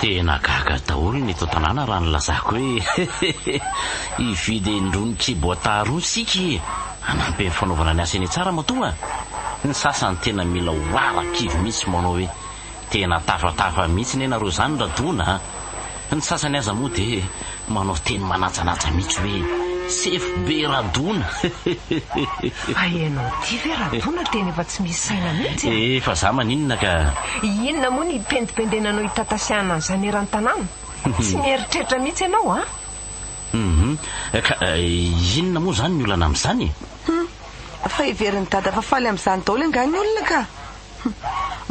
Tena gaga daholo ny eto an-tanàna raha nilazako hoe hividy endrony Kubota roa isika e! hanampy amin'ny fanaovana ny asa eny Tsaramatoa a! Ny sasany tena mila hoara-kivy mihitsy manao hoe tena tafatafa mihitsy ne nareo izany ra dona a! Ny sasany aza moa dia Manao teny manajanaja mihitsy hoe sefo be Radona. Fa ianao ity ve Radona tena efa tsy misy saina mihitsy a! Eh fa za maninona ka! Inona moa ny hipendipendenanao hitatasiahana an'izany eran-tanàna? Tsy mieritreritra mihitsy ianao a! Hum ka inona moa izany ny olana amin'izany e! Hum fa heverin'i Dada fa faly amin'izany daholo angaha ny olona ka! Hum.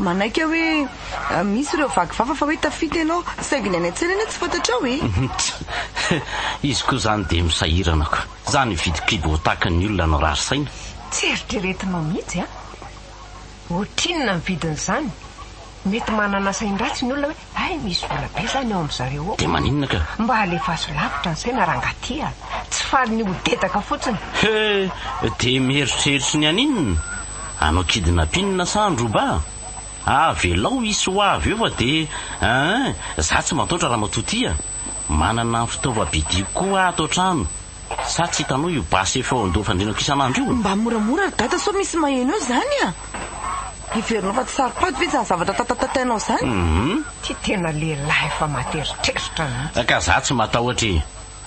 Manaiky aho hoe misy ireo vaky vava fa hoe tafita ianao, saingy ny any an-tsena anie tsy fantatrao e! Tch! Izy koa izany dia misahirana ko! Za ny hividy kibo ho tahaka ny olona nirary saina? Tsy eritreretinao mihitsy an! Ohatrinona ny vidin'izany? Mety manana sain-dratsy ny olona hoe Hay misy vola be zany ao amin-dry zareo ao. Dia maninona ka? Mba alefaso lavitra ny saina rangah ty a! Tsy faly ny ho dedaka fotsiny. He! Dia mieritreritry ny haninona? Hanao kidnappinina sa handroba? Avelao hisy ho avy eo fa dia eeh! Za tsy mataotra ramatoa ty a! Manana ny fitaovam-pidiako koa ato an-trano. Sa tsy hitanao io basy efa eo an-doha fandrinako isan'andro io? Mba moramora ry dada sao misy maheno eo zany a! Heverinao fa tsy saropady ve zany zavatra tatatatainao zany? Hum. Ty tena lehilahy efa materitreritra mihitsy. Ka za tsy matahotra e!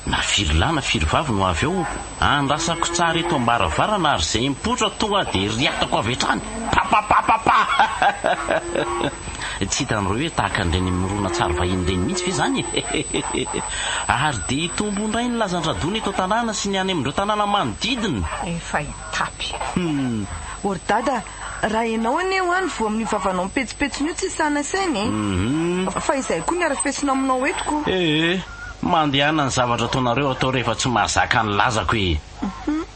Na firy lahy na firy vavy no avy ao, andrasako tsara eto ambaravarana ary zay mipoitra tonga dia riatako avy hatrany, papapapapa! Tsy hitanareo hoe tahaka an'ireny moronan-tsary vahiny ireny mihitsy ve izany e! Ary dia hitombo indray ny lazan-dRadona eto an-tanàna sy ny any amin'ireo tanàna manodidina! Efa hitapy. Humm. O ry Dada a! Raha ianao anie hoa no voa amin'io vavanao mipetsipetsona io tsy sahy nasaina e! Humm. Fa izay koa ny arafesina aminao eto ko! Ee, mandehana ny zavatra ataonareo atao rehefa tsy mahazaka ny lazako e! Humm.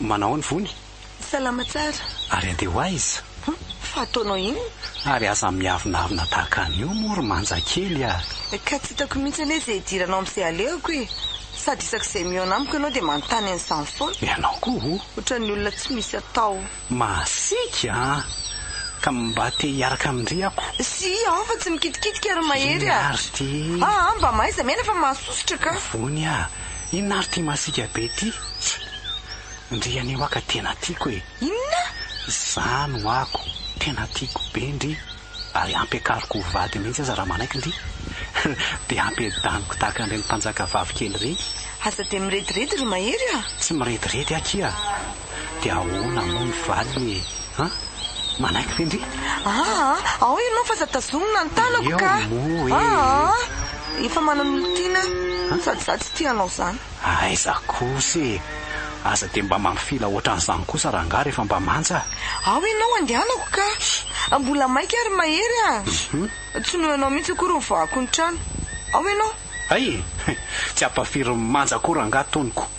Manao ny vony. Salama tsara. Ary andeha ho aiza? Hum, fa ataonao inona? Ary aza miavonavona tahaka an'io moa ry manja kely a! Ka tsy hitako mihitsy anie izay hidiranao amin'izay alehako e! Sady isaky izay mihaona amiko ianao dia manontany an'izany foana. Ianao koa o! Ohatran'ny olona tsy misy atao. Masiaka a! Ka mba te hiaraka amin-dry ako. Sii aho fa tsy mikitikitika ry Mahery a! Inona ary ity? Aa mba mahaiza miaina fa mahasosotra ka! Vony a! Inona ary ty masika be ty tch. Ndry anio aka tena tiako e. Inona? Zany ho ako tena tiako be ndry ary ampiakariko ho vadiny mihitsy aza raha manaiky ndry dia ampiadaniko tahaka an'ireny mpanjaka vavy kely ireny. Aza dia mirediredy ry Mahery a! Tsy mirediredy akia. dia ahoana moa ny valiny e? Ha? Manaiky ve ndry? Aa! Ao ianao f'aza tazomina ny tanako ka! Eo moa e! Aa! Efa manana olon-tiana aho sady izaho tsy tia anao izany. Aiza kosa e! Aza dia mba mampifila ohatran'izany kosa rangaha rehefa mba manja a! Ao ianao andehanako ka! Mbola maika ary mahery a! Tsy noho ianao mihitsy akory ny voahako ny trano. Ao ianao! Hay e! Tsy hampafirin'ny manja koa rangaha toniko.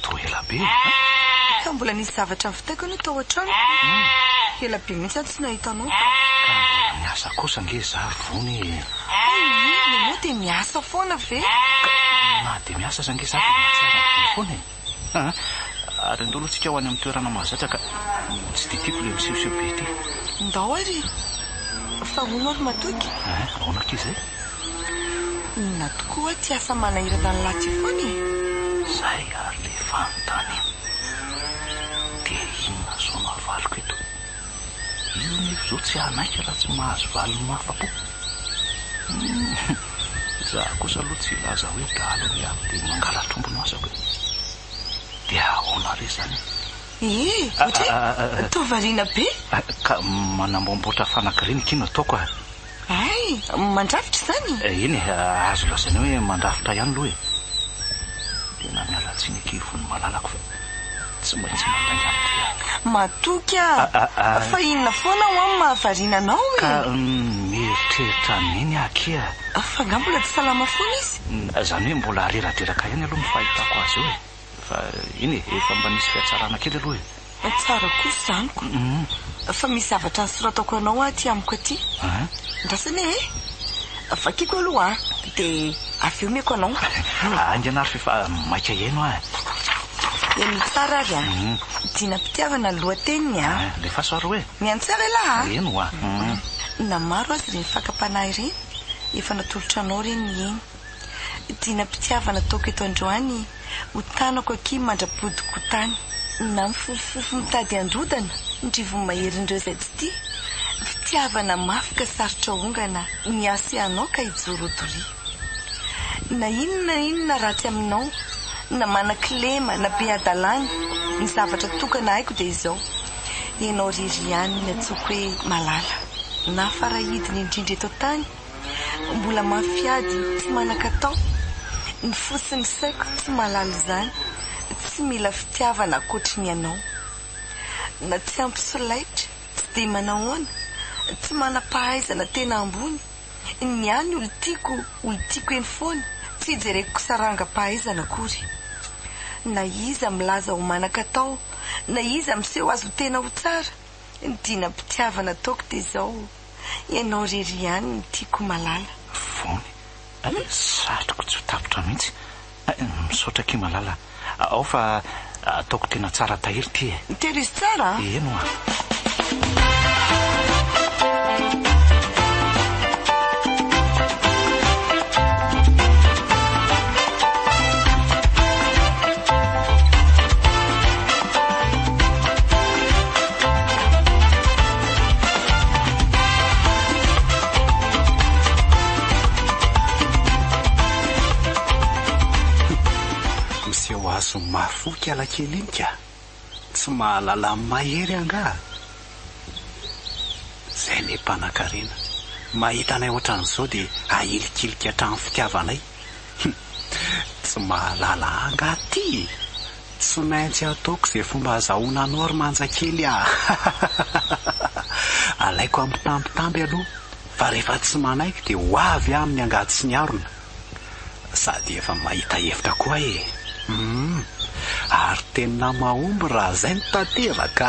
Toa ela be eh. Ka mbola nisy zavatra nivitaiko anie tao an-trano. Ela be mihitsy aho tsy nahita anao ka. Ka mbola miasa kosa ange za ry Vony e. Hay iny, ianao dia miasa foana ve? Ka na dia miasa aza ange za dia mahatsiaro an'i Vony foana e. Aa, ary ndao aloha tsika ho any amin'ny toerana mahazatra ka. Tsy dia tiako ilay misehoseho be ity. Ndao ary. Fa hono ary matoky. Eeh, ahoana akia izay? Inona tokoa ty asa manahirana an'lah ty foana e! Zay ary le fanontaniana. Dia inona izao no avaliko eto? Io anefa izao tsy hanaiky raha tsy mahazo valiny mahafa-po. Humm! Za kosa aloha tsy hilaza hoe dahalo ny ahy dia mangalatr'omby no asako e! Dia ahoana re izany e! Ee! Ohatry hoe toa variana be! Ka manamboamboatra fanagiriana akia no ataoko a! Hay! Mandrafitra izany e! Eny e, azo lazaina hoe mandrafitra ihany aloha e! Tena miala tsiny akia Von'ny malalako fa tsy maintsy mandainga amin'ity aho. Matoky aho fa inona foana ho'aho no mahavariana anao e! Ka mieritreritra an'iny aho akia. Fa angaha mbola tsy salama foana izy? Izany hoe mbola reradreraka ihany aloha ny fahitako azy eo e! Fa eny e, efa mba nisy fihatsarana kely aloha e. Tsara koa zaniko. Fa misy zavatra soratako anao aty amiko aty. Andrasana e! Vakiko aloha dia avy eo omeko anao. Haingana ary f'efa maika hihaino aho e. Heno tsara ary a! Dinam-pitiavana ny lohateniny a! Alefaso ary hoe. Mihaino tsara elah a! Eny hoa. Na maro aza ireny fakam-panahy ireny, efa natolotranao ireny ny eny. Dinam-pitiavana ataoko eto androany Ho tanako akia mandra-podiko tany Na mifofofofo mitady handrodana Ny rivony maherin'ireo izay tsy tia Fitiavana mafy ka sarotra aongana Niasa hianao ka hijoro ho doria Na inona na inona ratsy aminao Na manan-kilema na be hadalana Ny zavatra tokana haiko dia izao Ianao irery ihany ny antsoiko hoe Malala Na farahidiny indrindra eto an-tany Mbola mafy ady tsy manan-katao Ny fo sy ny saiko tsy mahalala izany Tsy mila fitiavana ankoatry ny anao Na tsy ampy solaitra tsy dia manahoana Tsy manam-pahaizana tena ambony Ny ahy ny olon-tiako olon-tiako eny foana Tsy jereko sarangam-pahaizana akory Na iza milaza ho manan-katao Na iza miseho azy ho tena ho tsara Ny dinam-pitiavana ataoko dia izao, ianao irery ihany no tiako Malala. Fony, eh, satriko tsy ho tapitra mihitsy eh, misaotra akia Malala a, ao fa ataoko tena tsara tahiry ity e. Tehirizo tsara a. Eny oa. Miseho azon'ny mafy oka i Lakely iny ka! Tsy mahalala an'i Mahery angaha? Izay ilay mpanankarena, mahita anay ohatran'izao dia ahilikilika hatrany fitiavanay. Hum, tsy mahalala ahy angaha ity e! Tsy maintsy ataoko izay fomba azahoana anao ry manja kely a! Alaiko ampitambitamby aloha fa rehefa tsy manaiky dia ho avy aho amin'ny angady sy ny harona. Sady efa mahita hevitra koa e! Hum! Ary tena mahomby raha izay no tanteraka!